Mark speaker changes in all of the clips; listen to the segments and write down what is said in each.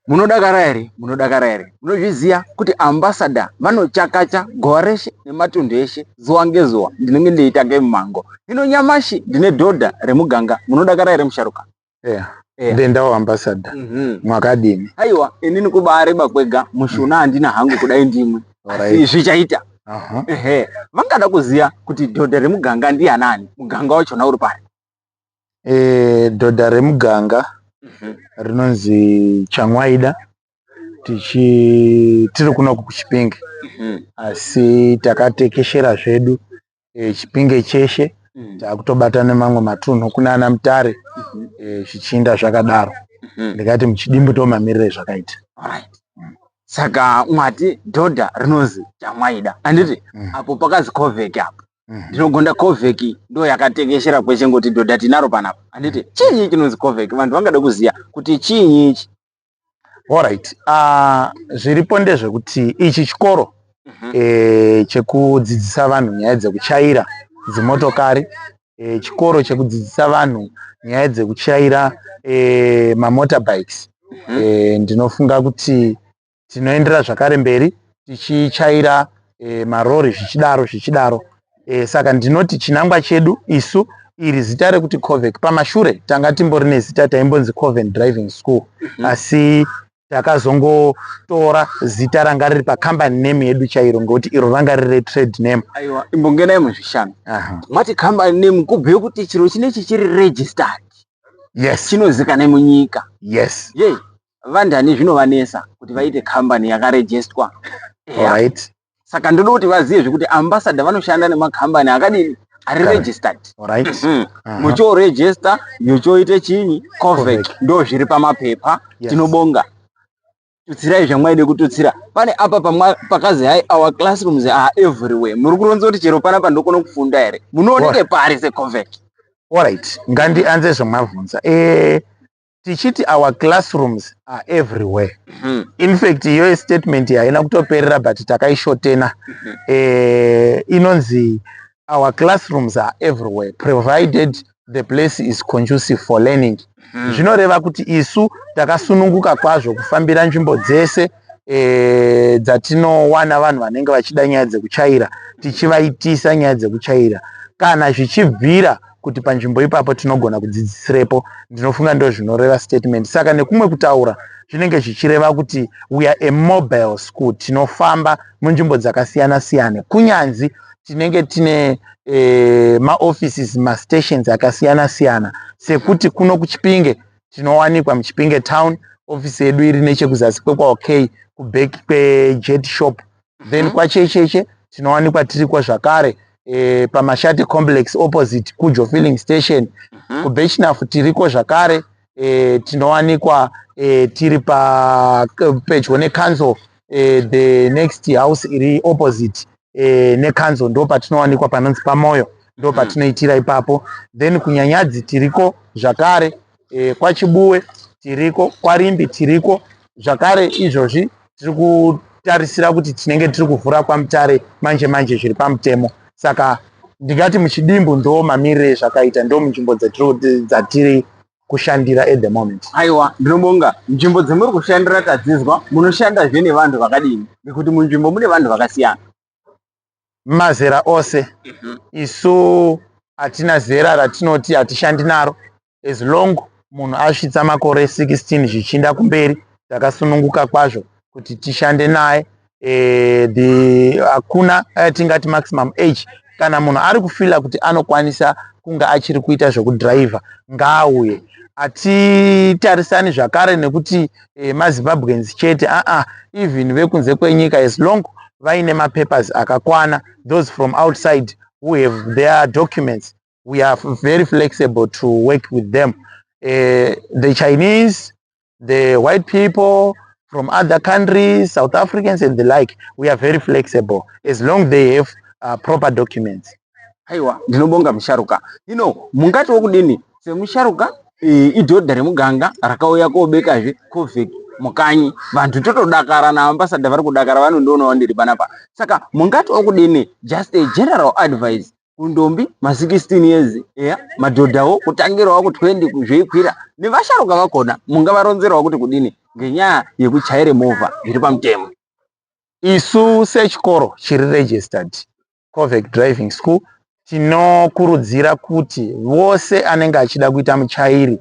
Speaker 1: Munodakara here? Munodakara here? Munozviziva kuti ambassador vanochakacha gowa reshe nematunhu eshe zuva ngezuva ndinenge ndeitsvake mumango. Hino nyamashi ndine dhodha remuganga. Munodakara here musharuka? Eya. Eya. Ndendawo
Speaker 2: ambassador. Mhm. Mwakadini? Aiwa, inini
Speaker 1: kubaareba kwega mushuna handina hangu kudai ndimwe. Alright. Asi zvichaita. Aha. Ehe. Vangada kuziva kuti dhodha remuganga ndianani? Muganga wachona uri pari? e, dhodha
Speaker 2: remuganga mhm. rinonzi Changwaida tichi tiri kuno kuChipinge mhm. asi takatekeshera zvedu e, Chipinge cheshe mhm. takutobata nemamwe matunhu kunana Mutare e, zvichinda zvakadaro ndikati muchidimbu tomamirire zvakaita
Speaker 1: saka mwati dhodha rinonzi Changwaida anditi apo pakazi Covec apo mhm. ndinogonda covec ndo yakatekeshera kweshe ngoti dhodha tinaro panapa handiti mhm. chiinyi chinonzi covec vanhu vangada kuziva kuti chiinyi ichi orit
Speaker 2: ah, zviripo ndezvekuti ichi chikoro mhm. eh, chekudzidzisa vanhu nyaya dzekuchaira dzimotokari eh, chikoro chekudzidzisa vanhu nyaya dzekuchaira eh, mamotorbikes ndinofunga kuti tinoendera zvakare mberi tichichaira e, marori zvichidaro zvichidaro e, saka ndinoti chinangwa chedu isu iri zita rekuti covec pamashure tanga timbori nezita taimbonzi coven driving school mm -hmm. asi takazongotora zita ranga riri pacompany name yedu chairo ngokuti iro ranga riri retrade name aiwa imbongenai
Speaker 1: muzvishanu mati company name kubhuye kuti chiro chinechi chiri registered yes
Speaker 2: chinozikanai munyika
Speaker 1: yes yei
Speaker 2: yeah.
Speaker 1: vandani zvinovanesa kuti vaite kambani yakarejestwa right.
Speaker 2: saka ndoda kuti
Speaker 1: vazive zvekuti ambassador vanoshanda nemakambani akadini ari registered right. mm
Speaker 2: -hmm. uh -huh. muchorejesta
Speaker 1: yochoite chinyi covec ndo zviri pamapepa yes. tinobonga tutsirai zvamwaide kututsira pane apa pakazi hai our classrooms are everywhere muri kuronza kuti chero pana pandokona kufunda here munooneke pari secovec orit
Speaker 2: ngandianze zvamavhunza e eh, tichiti our classrooms are everywhere mm. infact iyoyo statement haina kutoperera but takaishotena mm -hmm. eh, inonzi our classrooms are everywhere provided the place is conducive for learning hmm. zvinoreva kuti isu takasununguka kwazvo kufambira nzvimbo dzese e, dzatinowana vanhu vanenge vachida nyaya dzekuchaira tichivaitisa nyaya dzekuchaira kana zvichibvira kuti panzvimbo ipapo tinogona kudzidzisirepo ndinofunga ndo zvinoreva statement saka nekumwe kutaura zvinenge zvichireva kuti we are a mobile school tinofamba munzvimbo dzakasiyana siyana kunyanzi tinenge tine e, maoffices mastations akasiyana siyana sekuti kuno kuchipinge tinowanikwa muchipinge town ofisi yedu iri nechekuzasi kwekwaokay kubeki kwejet shop then mhm. kwachecheche tinowanikwa tiriko zvakare e, pamashati complex opposite kujo filling station mhm. kubechnaf tiriko zvakare e, tinowanikwa e, tiri pa pedyo necouncil eh, the next house iri opposite eh, nekanzo ndo patinowanikwa panonzi pamoyo ndo hmm. patinoitira ipapo then kunyanyadzi tiriko zvakare eh, kwachibuwe tiriko kwarimbi tiriko zvakare izvozvi tiri kutarisira kuti tinenge tiri kuvhura kwamutare manje manje zviri pamutemo saka ndingati muchidimbu ndo mamirire zvakaita ndo munzvimbo dzatiri kushandira at the moment. Aiwa, ndinobonga.
Speaker 1: Nzvimbo dzemuri kushandira tadzizwa, munoshandazve nevanhu vakadini? Nekuti munzvimbo mune vanhu vakasiyana.
Speaker 2: Mazera ose. Mhm. Isu hatina zera ratinoti hatishandi naro as long munhu asvitsa makore 16 zvichinda kumberi takasununguka kwazvo kuti tishande naye eh, the hakuna eh, tingati maximum age kana munhu ari kufila kuti anokwanisa kunge achiri kuita zvekudhiraivha ngaauye hatitarisani zvakare nekuti eh, mazimbabweans chete aa ah, ah, even vekunze kwenyika as long vaine mapapers akakwana those from outside who have their documents we are very flexible to work with them uh, the chinese the white people from other countries, South Africans and the like, we are very flexible as long they have uh, proper documents. Aiwa,
Speaker 1: ndinobonga musharuka. You know, mungati wokudini semusharuka eh, idhodha remuganga rakauya kobekazve covid mukanyi vanhu totodakara naambasada vari kudakara vanondionawo ndiri panapa saka mungati okudini just a general advice kundombi ma 16 years eya madhodhawo kutangirawo ku 20 kuzveikwira nevasharuka vakona mungavaronzerawo kuti kudini ngenyaya yekuchaire movha zviri pamutemo isu
Speaker 2: sechikoro chiri registered covec driving school tinokurudzira kuti vose anenge achida kuita muchairi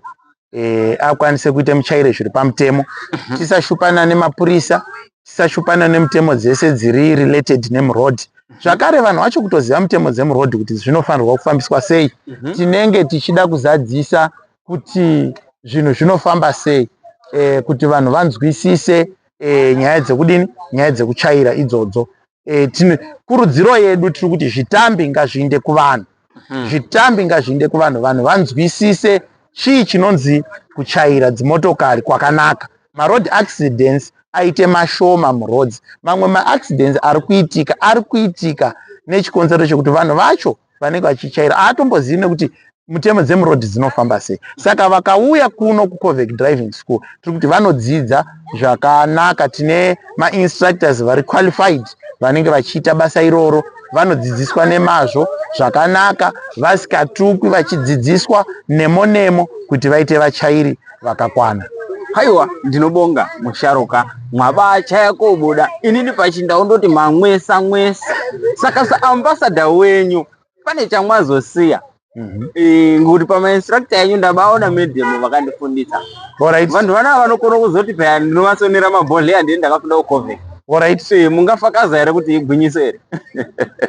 Speaker 2: eh, akwanise kuita muchaire zviri pamutemo mhm. tisashupana nemapurisa tisashupana nemutemo dzese dziri related nemroad mhm. zvakare vanhu vacho kutoziva mutemo dzemroad kuti zvinofanirwa kufambiswa sei mhm. tinenge tichida kuzadzisa kuti zvinhu zvinofamba sei eh, kuti vanhu vanzwisise eh, nyaya dzekudini nyaya dzekuchaira idzodzo e, tine kurudziro yedu tiri kuti zvitambi ngazviinde kuvanhu mhm. zvitambi ngazviinde kuvanhu vanhu vanzwisise chii chinonzi kuchaira dzimotokari kwakanaka maroad accidents aite mashoma muroads mamwe maaccidents ari kuitika ari kuitika nechikonzero chekuti vanhu vacho vanenge vachityaira haatombozivi nekuti mutemo dzemuroad dzinofamba sei saka vakauya kuno kucovec driving school tiri kuti vanodzidza zvakanaka tine mainstructors vari qualified vanenge vachiita basa iroro vanodzidziswa nemazvo zvakanaka vasikatukwi vachidzidziswa nemo nemo kuti vaite vachairi vakakwana. Haiwa
Speaker 1: ndinobonga musharuka mwabacha yakobuda inini pachinda undoti mamwesa mwesa saka saambasada wenyu pane chamwazosiya mhm. eh, ngekuti pamainstructor yenyu ndabaona medium vakandifundisa vanhu
Speaker 2: vanaa vanokona
Speaker 1: kuzoti paya ndinovasonera mabhodhleya ndini ndakafunda kucovic orit eh,
Speaker 2: mungafakaza here
Speaker 1: kuti igwinyiso here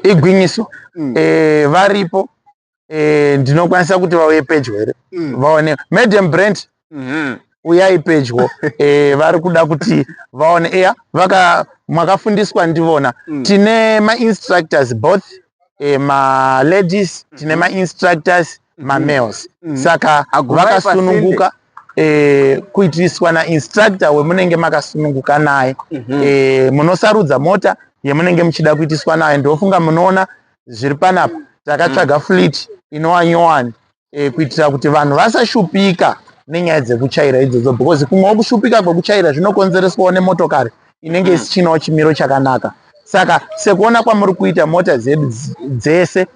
Speaker 1: igwinyiso
Speaker 2: mm. eh, varipo eh, ndinokwanisa kuti vauye pedyo here mm. vaone madam brand mm -hmm. uyai pedyo eh, vari kuda kuti vaone eya vaka mwakafundiswa ndivona mm. tine mainstructors both eh, maladies tine mm-hmm. mainstructors mm-hmm. mamales mm -hmm. saka vakasununguka eh, kuitiriswa nainstructor wemunenge makasununguka naye mm -hmm. eh, munosarudza mota yemunenge muchida kuitiswa nayo ndofunga munoona zviri panapa takatsvaga flit inowa nyowani e, kuitira kuti vanhu vasashupika nenyaya dzekuchaira idzodzo because kumwewo kushupika kwekuchaira zvinokonzereswawo nemotokari inenge mm. isichinawo chimiro chakanaka saka sekuona kwamuri kuita mota dzedu dzese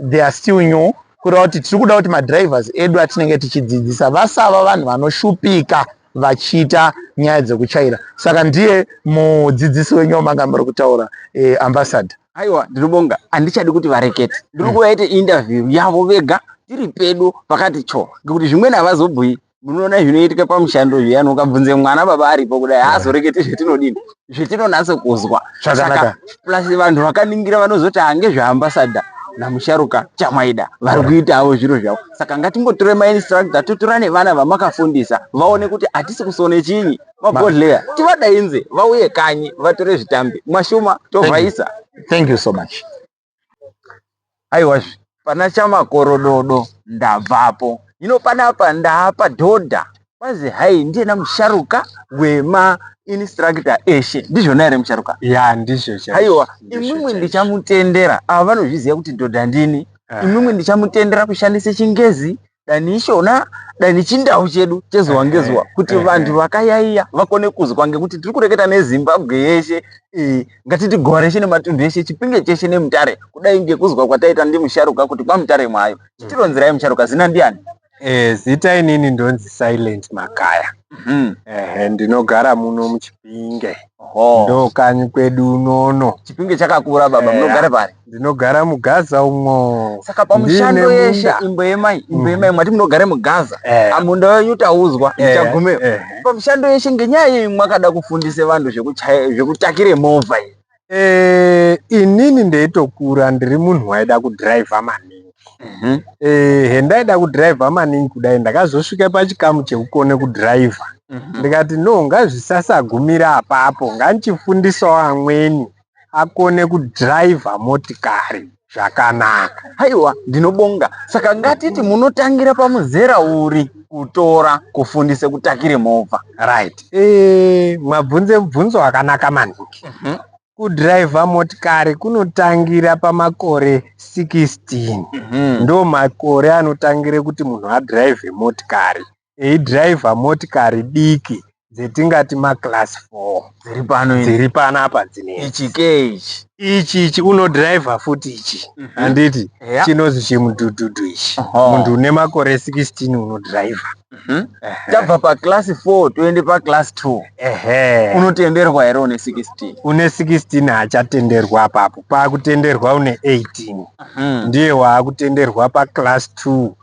Speaker 2: they are still new kureva kuti tiri kuda kuti madrivers edu atinenge tichidzidzisa vasava vanhu vanoshupika vachiita nyaya dzekuchaira saka ndiye mudzidzisi wenyu wamanga muri kutaura eh, ambassador aiwa ndinobonga
Speaker 1: handichadi kuti varekete ndiri hmm. kuvaite interview yavo vega tiri pedu pakati cho ngekuti zvimweni havazobhuyi munoona zvinoitika pamushando zviya nokabvunze mwana baba aripo kudai haazorekete zvetinodini zvetinonatso kuzwa saka plus vanhu vakaningira vanozoti hange ah, zveambasada namusharuka chamaida vari kuitawo zviro zvavo saka ngatingotore mainstructor totora nevana vamakafundisa vaone kuti hatisi kusone chinyi mabhodhleya tivadainze vauye kanyi vatore zvitambi mwashuma tovhaisa thank you so much
Speaker 2: aiwazve
Speaker 1: pana chamakorododo ndabvapo hino panapa ndaapa dhodha kwazi hai ndiyena musharuka wema instructor eshe ndizvona here musharuka ya ndizvo
Speaker 3: aiwa imwimwi
Speaker 1: ndichamutendera ava vanozviziva kuti dhodha ndini imwimwi ndichamutendera kushandisa chingezi dani ishona dani chindau chedu chezuva eh, ngezuva eh, kuti eh, vantu vakayaiya vakone kuzwa ngekuti tiri kureketa nezimbabwe yeshe ngatiti gowa reshe nematunhu eshe chipinge cheshe nemutare kudai ngekuzwa kwataita ndimusharuka kuti kwamutare mwayo chitironzerai musharuka zina ndiani zita
Speaker 3: inini ndonzi silent makaya Mhm. Ehe, ndinogara muno muchipinge Ho. ndo kanyi kwedu unono Chipinge chakakura
Speaker 1: baba Eya. munogara pari. ndinogara mugaza
Speaker 3: umwo Saka pamushando Ndine
Speaker 1: yeshe munda. imbo yemai imbo Mhm. yemai mwati munogara mugaza. Eh, Amunda wenyu taudzwa eh, ndichagumeyo. eh. Pamushando yeshe ngenyaya yei mwakada kufundisa vanhu zvekuchaya zvekutakire movha iyi. Eh, inini
Speaker 3: ndeitokura ndiri munhu waida kudhiraivha maningi mhm. eh, hendaida kudhiraivha maningi kudai ndakazosvika pachikamu chekukone kudhiraivha mhm. ndikati no ngazvisasagumira apapo ngandichifundisawo amweni akone kudhiraivha motikari zvakanaka haiwa
Speaker 1: ndinobonga saka ngatiti munotangira pamuzera uri kutora kufundisa kutakire movha right e,
Speaker 3: mabvunze mubvunzo wakanaka maningi mm -hmm. kudhiraivha motikari kunotangira pamakore 16 mm -hmm. ndo makore anotangire kuti munhu adhiraivhe motikari eidriver motikari diki dzetingati maclass four dziri pano dziri
Speaker 1: pano apa dzine
Speaker 3: ichi ke ichi ichi ichi unodriver futi ichi mhm. handiti mm -hmm. yeah. chinozi chimudhudhudhu ichi uh -huh. munhu une makore 16 unodriver mm -hmm. tabva
Speaker 1: paclass four toende paclass two ehe unotenderwa here une 16 une 16
Speaker 3: haachatenderwa apapo paakutenderwa une 18 mm -hmm. ndiye waakutenderwa paclass two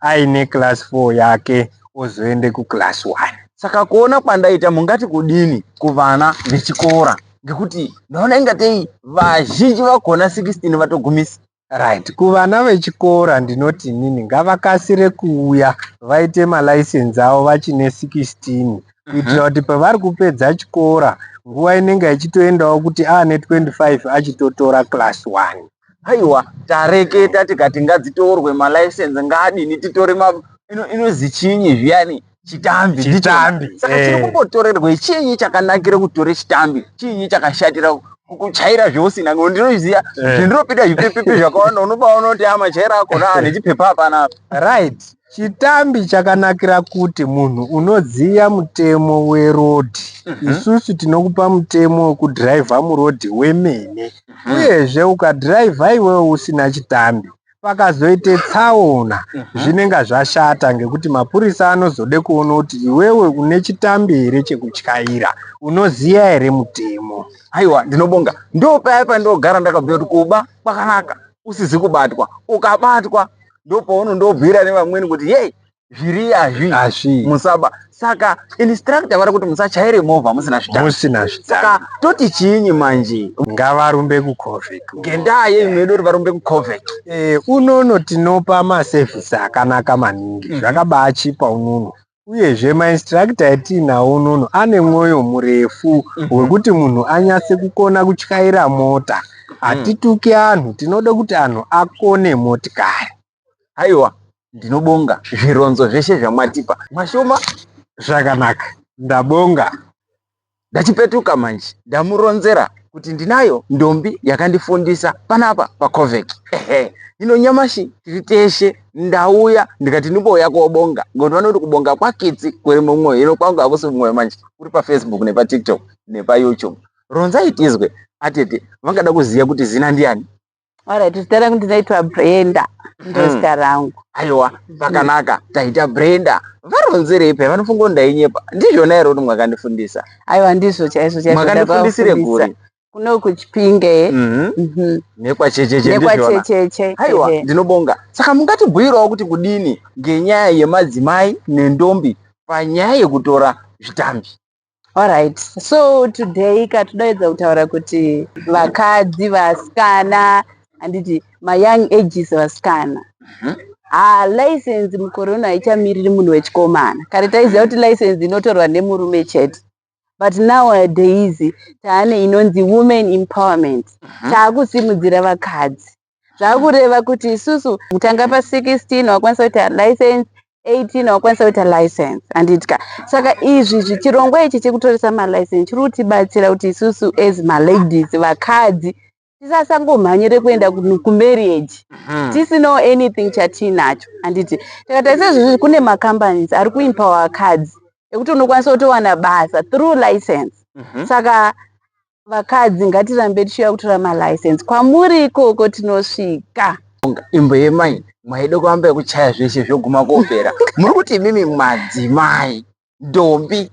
Speaker 3: aine class 4 yake ozoende kuclass 1 saka kuona
Speaker 1: kwandaita mungati kudini kuvana vechikora ngekuti ndaona ingatei vazhinji vakona 16 vatogumisa right kuvana
Speaker 3: vechikora ndinoti nini ngavakasire kuuya vaite malicense avo vachine 16 kuitira mhm. kuti pavari kupedza chikora nguva inenge ichitoendawo kuti aane 25 achitotora class 1 Aiwa
Speaker 1: tareketa tikati ngadzitorwe malicense ngaadini titore ma ino inozi chinyi zviyani chitambi ndicho. Chitambi, saka eh. chiri kumbotorerwei chinyi chakanakira kutora chitambi chinyi chakashatira ku- kuchaira zveusina ngo ndinoziva Eh. zvendinopinda zvipepepe zvakawanda unobaona kuti amachaira akona ane chipepa hapana apa right
Speaker 3: Chitambi chakanakira kuti munhu unoziva mutemo weroad mm -hmm. isusu tinokupa mutemo wekudhiraivha muroad wemene mm -hmm. uyezve ukadhiraivha iwewe usina chitambi pakazoita tsaona mhm. zvinenge zvashata ngekuti mapurisa anozode kuona kuti iwewe une chitambi here chekutyaira unoziva here mutemo aiwa ndinobonga
Speaker 1: ndopaya pandogara ndakabvira kuti kuba kwakanaka usizi kubatwa ukabatwa ndopaunondobhuira nevamweni kuti yei zviri azvi azvi musaba saka instructor vari kuti musachaire movha musina zvita musina zvita saka toti chiinyi manje ngavarumbe
Speaker 3: kucovic ngendaa yei mwedu
Speaker 1: kuti varumbe kucovic eh unono
Speaker 3: tinopa maservice akanaka maningi mm. zvakabachipa unono uyezve mainstructor yatiinawo unono ane mwoyo murefu mhm. wekuti munhu anyatse kukona kutyaira mota mhm. hatituki anhu tinoda kuti anhu akone motikari aiwa
Speaker 1: ndinobonga zvironzo zveshe zvamatipa mashoma zvakanaka
Speaker 3: ndabonga
Speaker 1: Ndachipetuka manje ndamuronzera kuti ndinayo ndombi yakandifundisa panapa pacovec ehe hino nyamashi tiri teshe ndauya ndikati ndimouya kobonga ngokuti vanoti kubonga kwakitsi kuri mumwoyo hino kwangu hakusi mumwoyo manje kuri pafacebook nepatiktok nepayoutube ronzai tizwe atete vangada kuziva kuti zina ndiani Alright, zita
Speaker 4: rangu ndinoitwa Brenda. Ndozita hmm. rangu. Aiwa,
Speaker 1: pakanaka. Taita Brenda. Varonzerei paya vanofunga kuti ndainyepa. Ndizvona here kuti mwakandifundisa? Aiwa, ndizvo chaizvo
Speaker 4: chaizvo. Mwakandifundisire kuri.
Speaker 1: Kuno kuchipinge.
Speaker 4: Mhm. Mhm.
Speaker 1: Nekwachecheche ndizvona. Nekwachecheche.
Speaker 4: Aiwa, ndinobonga.
Speaker 1: Saka mungatibhuirawo kuti kudini ngenyaya yemadzimai nendombi panyaya yekutora zvitambi. Alright.
Speaker 4: So today katodaidza kutaura kuti vakadzi vasikana handiti mayoung ages vasikana Mhm. ha license mukore uno haichamiriri munhu wechikomana kare taiziva kuti license inotorwa nemurume chete but nowadays taane inonzi women empowerment Mhm. taakusimudzira vakadzi zvakureva kuti isusu kutanga pa 16 wakwanisa kuita license 18 wakwanisa kuita license handidka saka izvi zvichirongwa ichi chekutoresa malicense chiri kutibatsira kuti isusu as maladies vakadzi tisasangomhanyire kuenda kumarriage mhm. tisinawo anything chatiinacho handiti takatarisa izvozvi kune macompanies ari kuimpawa vakadzi ekuti unokwanisa kutowana basa through license mhm. saka vakadzi ngatirambe tichiuya kutora malicense kwamuri ikoko tinosvika imbo
Speaker 1: yemai mwaida kuramba yekuchaya zveshe zvoguma kopera muri kuti imimi madzimai ndombi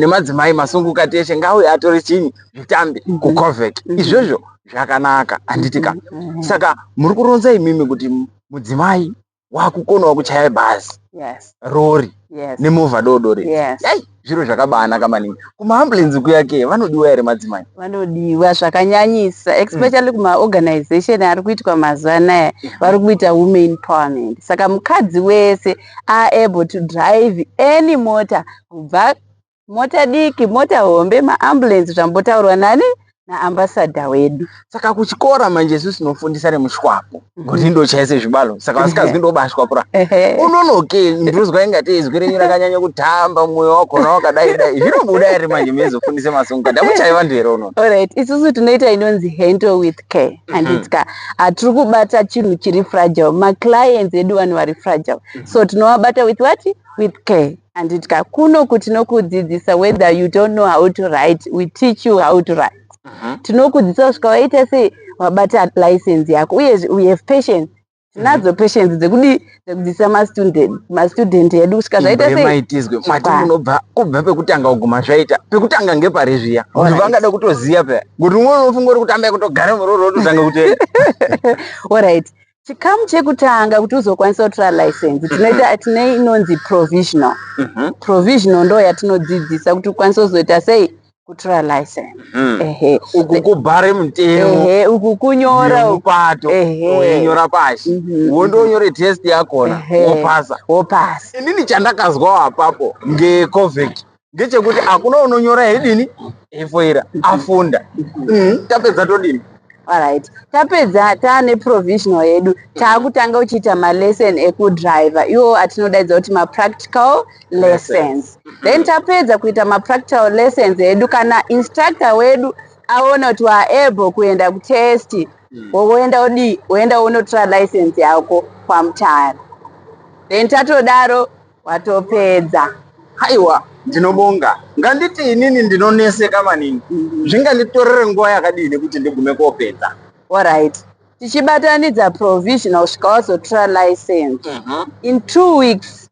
Speaker 1: nemadzimai masunguka teshe ngauye atore chinyi zvitambi mhm. kucovec mhm. izvozvo zvakanaka handitika mhm. saka muri kuronza imimi kuti mudzimai wakukonawo kuchaya bhazi yes. rori yes. nemovha doodori yes. Yai, zviro zvakabaanaka maningi kumaambulensi kuyake vanodiwa here madzimai vanodiwa
Speaker 4: zvakanyanyisa especially mm. kumaorganization ari kuitwa mazuva anaya mm. vari kuita women parliament saka mukadzi wese aable to drive any mota kubva mota diki mota hombe maambulensi zvambotaurwa nani naambasadha wedu saka kuchikora
Speaker 1: manje isu tinofundisa nemushwapo kuti mhm. ndochaise zvibalo saka vasikazwi ndobashwapura unonoke ndinozwa ingatei izwi renyu rakanyanya kutamba mwoyo wakona wakadai dai zvinobuda iri manje meizofundisa masongo kada kuchai vanhu here unono orit isusu tinoita
Speaker 4: inonzi handle with care handitsika mhm. hatiri kubata chinhu chiri fragile maclients edu vanhu vari fragile mhm. so tinovabata with what with care Anditya kuno ku tinokudzidzisa whether you don't know how to write we teach you how to write mhm. tinokudzidzisa kusvika waita sei wabata license yako uyezve we have patience tinadzo mhm. patience dzekudii dzekudzidzisa mastudent edu kusvika zvaita seimaitizwe mati unobva
Speaker 1: kubva pekutanga kuguma zvaita pekutanga ngepari zviya kuti vangada kutoziva peya kuti umwe unofunga uri kutamba kutogara muroro ototanga kutenda orit
Speaker 4: chikamu chekutanga kuti uzokwanisa kutora license tinoita tine inonzi provisional Mhm. provisional ndo yatinodzidzisa kuti ukwanise kuzoita sei kutora license Mhm. ehe uku
Speaker 1: kubhare mutemo ehe uku kunyora
Speaker 4: uku nemupato Ehe.
Speaker 1: weinyora pashi Mhm. wondonyore test yakona Ehe. wopasa wopasa inini chandakazwawo apapo ngecovec ngechekuti hakuna unonyora hedini efoira afunda mm, tapedza todini Alright.
Speaker 4: Tapedza taane provisional yedu taakutanga uchiita malesson ekudriver iwo atinodaidza kuti mapractical lessons then tapedza kuita mapractical lessons edu kana instructor wedu aona kuti waable kuenda kutest hmm. woenda odii woenda wonotora license yako kwamutara then tatodaro Watopedza. Haiwa,
Speaker 1: ndinobonga. Nganditi inini ndinoneseka maningi. Zvinganditorere nguva yakadini kuti ndigume kopedza? Horaiti.
Speaker 4: Tichibatanidza provisional kusvika wazotora license. Mhm. In two weeks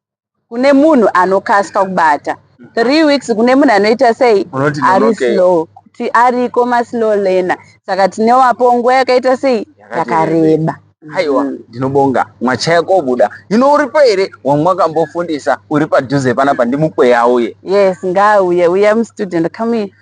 Speaker 4: kune munhu anokasika kubata. Three weeks kune munhu anoita sei? Unoti Ari nonokei. slow. Kuti ariko maslow learner. Saka tinowapo nguva yakaita sei? Yakati Yakareba. haiwa mm.
Speaker 1: ndinobonga mwachaya kobuda hino uripo here wamwakambofundisa uri padhuze panapa ndimukweya uye yes ngaauye
Speaker 4: uya mstudent come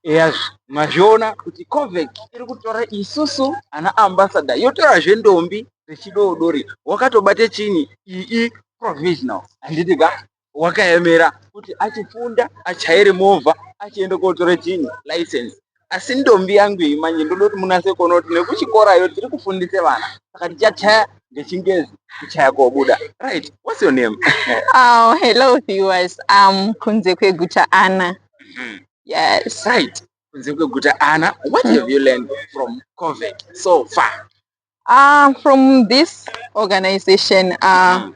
Speaker 4: yes
Speaker 1: mazviona kuti covec iri kutora isusu ana ambassador yotorazve ndombi dzechidoodori wakatobate chini ii provisional handiti ka wakaemera kuti achifunda achaire movha achienda kotora chini license asi ndombi yangu iyi manje ndoda kuti munase kuona kuti nekuchikorayo tiri kufundisa vana saka tichachaya ngechingezi kuchaya kobuda right what's your name oh, hello
Speaker 5: viewers um, kunze kweguta ana mm. yes right kunze
Speaker 1: kweguta ana what have you learned from covid so far uh, from
Speaker 5: this organization uh, mm.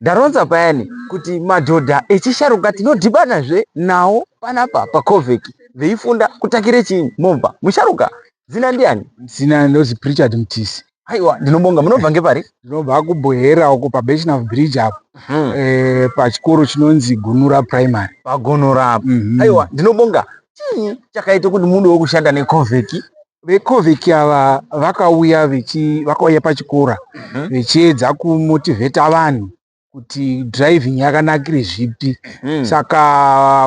Speaker 5: ndaronza
Speaker 1: payani kuti madhodha echisharuka tinodhibanazve nawo panapa pacovec veifunda kutakire chii mobva musharuka zina ndiani zina ndozi prichard
Speaker 3: mtisi aiwa ndinobonga
Speaker 1: munobva ngepari ndinobva kubuhera
Speaker 3: uko pabeshnaf bridge apo hmm. eh, pachikoro chinonzi gunura primary pagunura apo
Speaker 1: mhm. aiwa ndinobonga chii chakaita kuti mudewo kushanda necovec vecovic
Speaker 3: ava vakauya vakauya pachikora mhm. vechiedza mm -hmm. kumotivheta vanhu kuti driving yakanakire zvipi mm. saka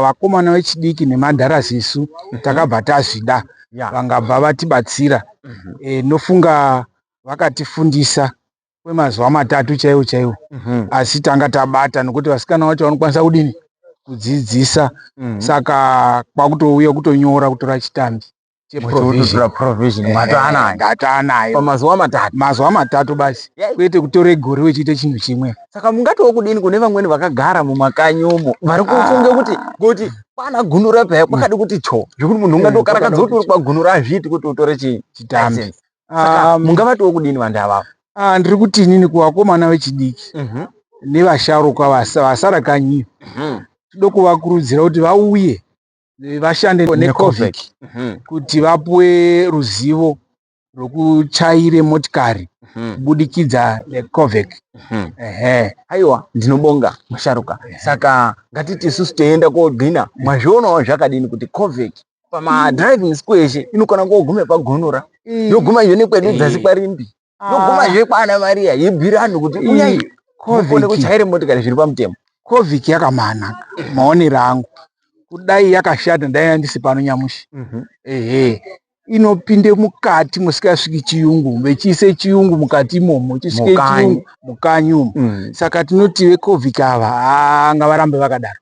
Speaker 3: vakomana vechidiki nemandharas isu mm -hmm. takabva tazvida yeah. vangabva vatibatsira mm -hmm. e, nofunga vakatifundisa kwemazuva matatu chaiwo chaiwo mm -hmm. asi tanga tabata nokuti vasikana vacho vanokwanisa kudini kudzidzisa mm -hmm. saka kwakutouya kutonyora kutora chitambi mazuva matatu
Speaker 1: mazuva matatu basi
Speaker 3: kwete kutora igore wechiita chinhu chimwe saka mungatiwo kudini
Speaker 1: kune vamweni vakagara mumakanyi umo vari kufunge kuti kuti kwana gunura paya kwakadi kuti cho zvekuti munhu ungatokarakadza kuti uri kwagunura azviiti kuti utore chii chitambi saka mungavatiwo kudini vanhu avavo Ah, ndiri kuti inini
Speaker 3: kuvakomana vechidiki mhm. nevasharukwa vasara kanyi mhm. tinoda kuvakurudzira kuti vauye vashande necovic mhm. kuti vapuwe ruzivo rwekuchaire motikari mhm. kubudikidza necovic mhm. ehe
Speaker 1: aiwa ndinobonga musharuka saka ngatiti isusu toenda kogina mwazvionawo zvakadini kuti covic pamadriving school eshe inokona koguma pagonora yoguma iyo nekwedu dzasi kwarimbi yoguma ah. zvekwana maria yibhira anhu kuti ione kuchaire motikari zviri pamutemo covic yakamana
Speaker 3: maonero angu kudai yakashata ndai yandisi pano nyamushi mhm. ehe inopinde mukati musikasviki chiyungu vechiise chiyungu mukati imomo chisvike chiyungu mukanyi umo mm. saka tinotive covic ava anga varambe vakadaro